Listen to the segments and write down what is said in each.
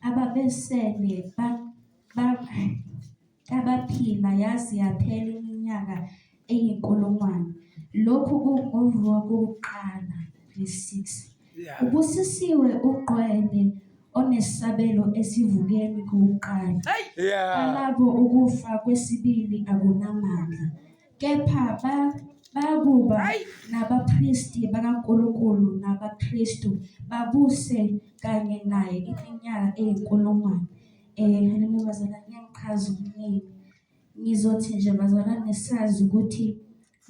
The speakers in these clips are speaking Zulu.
ababesele ba- ba- abaphila yaze yaphela iminyaka eyinkulungwane lokhu kungovuka kokuqala nge-6 ubusisiwe uqwele onesabelo esivukeni kokuqala Yeah. alabo ukufa kwesibili akunamandla kepha ba- bakuba nabapristi bakaNkulunkulu nabaKristu babuse kanye naye iminyaka eyinkulungwane. Eh haleluya bazalwane ngiyakuchaza okuningi. Ngizothi nje bazalwane sazi ukuthi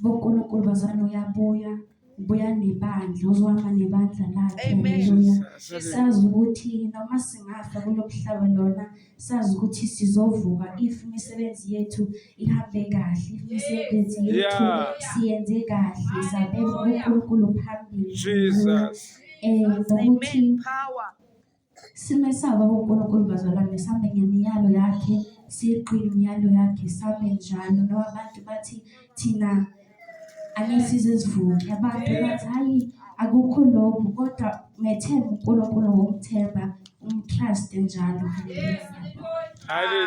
boNkulunkulu bazalwane uyabuya buya nebandla uzohamba nebandla lakhe Amen. haleluya Jesus. sazi ukuthi noma singafa kulo mhlaba lona sazi ukuthi sizovuka if imisebenzi yethu ihambe kahle if imisebenzi yethu Yeah. siyenze kahle sabeka unkulunkulu phambili Jesus. um nokuthi Amen. Power. Simesaba uNkulunkulu bazalwane sambe ngemiyalo yakhe siqine imiyalo yakhe sambe njalo ngoba abantu bathi thina anesize izivuki abantu bathi hayi akukho lokhu kodwa methemba uNkulunkulu womthemba umtruste njalo haleluya